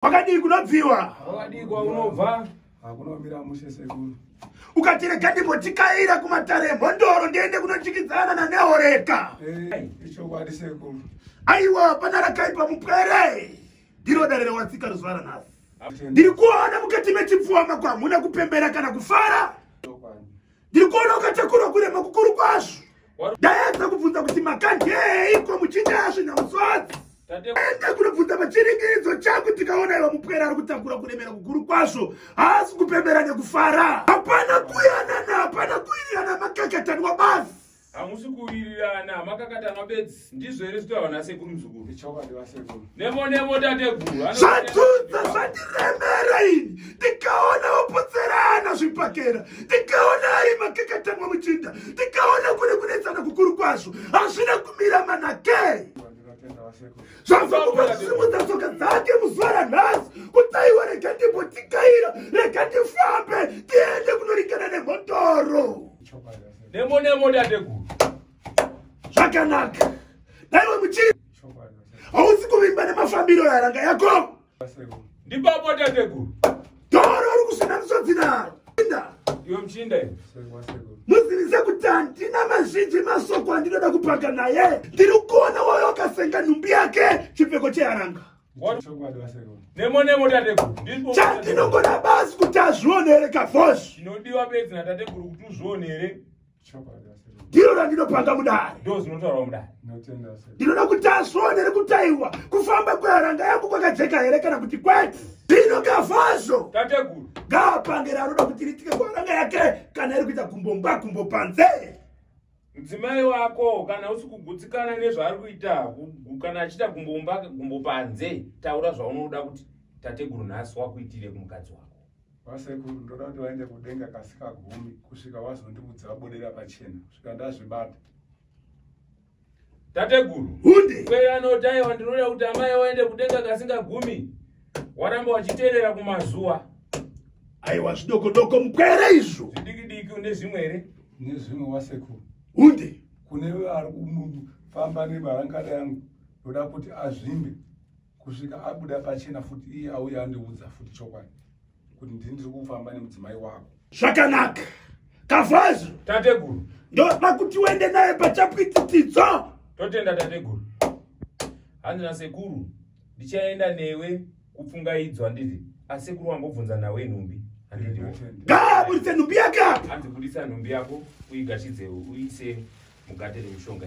kwakadii kunobviwa kwakadii kwaunobva hakunomira mushe sekuru ukatirega ndimbotikayira kumatare emhondoro ndiende kunochikidzana nanehoreka ichokwadi sekuru aiwa pana rakaipa mupwere ndiro dare rewatsika ruzuva ranhasi ndiri kuona mukati mechipfuwa mako hamuna kupembera kana kufara ndiri kuona ukatakura kurema kukuru kwazvo ndaedza kubvunza kuti makandeiko muchiita zvinhu musodzi ende kunobvunza pachiringidzo changu tikaona iwa mupwera ari kutakura kuremera kukuru kwazvo haasi kupembera nekufara hapana kuyanana hapana kuirirana makakatanwa basi hamusi kuwirirana makakatanwa bedzi ndizvo here zvitaurwa nasekuru muzukuru nemo nemo tateguru zvadzudza zvandiremera ini ndikaona vopotserana zvipakera ndikaona ari makakatanwa muchinda ndikaona kune kunetsana kukuru kwazvo hazvina kumira manakei zvazokupazvisimudza tsoka dzake muzuva ranhasi kutaiwa rega ndimbotikaira rega ndifambe tiende kunoringana nemhondoro Nemo nemo dadeguru. Zvakanaka. Daiwe muchiri. Hausi kuvimba nemafambiro yaranga yako. Ndipapo dadeguru. Doro uri kusvina misodzi naro. Inda. Iwe mchinda iwe. Muzivize kuti handina mazhinji masoko andinoda kupaka naye. Ndiri kuona woyo akasenga nhumbi yake chipfeko cheyaranga. nemo nemo tateguru chatinogona basi kuti azvionere kavos chinodiwa bedzi natateguru kuti uzvionere ndiro randinopanga mudare ndo zvinotaurwa mudare ndinoda kuti azvionere kutaiwa kufamba kweharanga yangu kwakajeka here kana kuti kwete zvino kavazvo tateguru ngaapange raanoda kuti ritike kuharanga yake kana iri kuita gumbo mba gumbo panze mudzimai wako kana usi kugutsikana nezvaari kuita kana achiita gumbomba gumbo panze taura zvaunoda kuti tateguru nhasi wakuitire kumukadzi wako vasekuru ndoda kuti vaende kudenga kasika gumi kusvika wazondiudza vabudira pachena kusvika ndazvibata tateguru hunde kweyanotaiwa ndinoda kuti amai waende kudenga kasinga gumi waramba wachiteerera kumazuva aiwa zvidoko doko mupwere izvo zvidiki diki une zvimwe here nezvimwe wasekuru hunde kune ari kufamba nebarangada yangu ndoda kuti azvimbe kusvika abuda pachena futi iye auya andiudza futi chokwadi kuti ndini ndiri kufamba nemudzimai wako zvakanaka kavhazi tateguru ndoda kuti uende naye pachapwititidzo totenda tateguru hanzi nasekuru ndichaenda newe kupfungaidzwa nditi asekuru wangobvunza nawe nhumbi gaburitse nhumbi yaka hanzi budisa nhumbi yako uigashidzewo uise mugate remushonga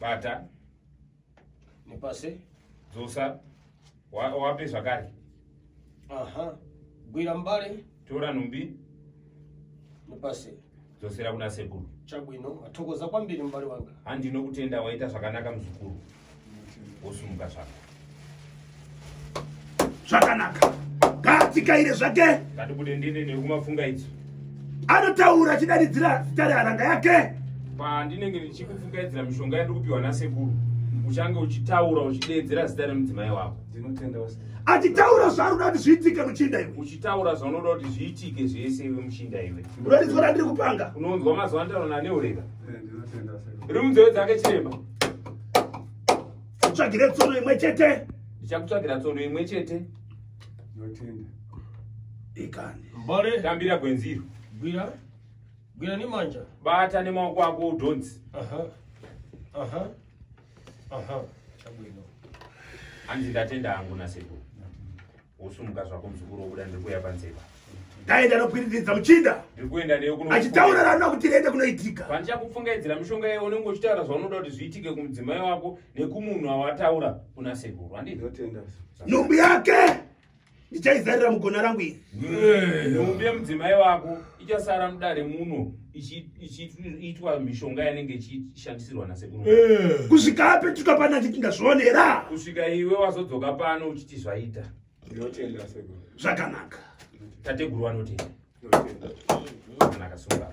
bata nepasi dzosa wa- wape zvakare aha gwira mbare tora nhumbi nepasi dzosera kuna sekuru chabwino athokoza kwambiri mbare wanga handinokutenda waita zvakanaka muzukuru wosumuka zvako zvakanaka ngaatikaire zvake ngatibude ndine nekumafunga idzo anotaura achidaridzira zita reharanga yake pandinenge ndichikufungaidzira mishonga yandiri kupiwa nasekuru uchange uchitaura uchideedzera zita remudzimai wako achitaura zvaunoda kuti zviitike muchinda iwe uchitaura zvaunoda kuti zviitike zvese iwe muchinda iwe unorizwa randiri kupanga unonzwa mazuva andaona neureka eh, rimudzeve dzake chirema tsvagire tsono imwe chete ndichakutsvagira tsono imwe chete ndotenda ikani mbare tambira gwenziro gwira gwira nemanja bata nemaoko ako udhonzi aha aha aha chabwino hanzi ndatenda hangu nasekuru wosumuka zvako muzukuru wobuda ndiri kuuya panze ipa ndaenda nokwiriridza muchinda ndiri kuenda newe kuno achitaura rana kuti rende kunoitika pandichakupfungaidzira mishonga yeye unenge uchitaura zvaunoda kuti zviitike kumudzimai wako nekumunhu awataura kuna sekuru andii nhumbu yake ndichaizarira mugona rangu iri nhumbu yemudzimai wako ichasara mudare muno ichiitwa mishonga yanenge ichishandisirwa nasekuru eh. kusvika apetuka pano achiti ndazvionera kusvika iwe wazodzoka pano uchiti zvaita ndinotenda sekuru zvakanaka tateguru vanotenda kana akasunga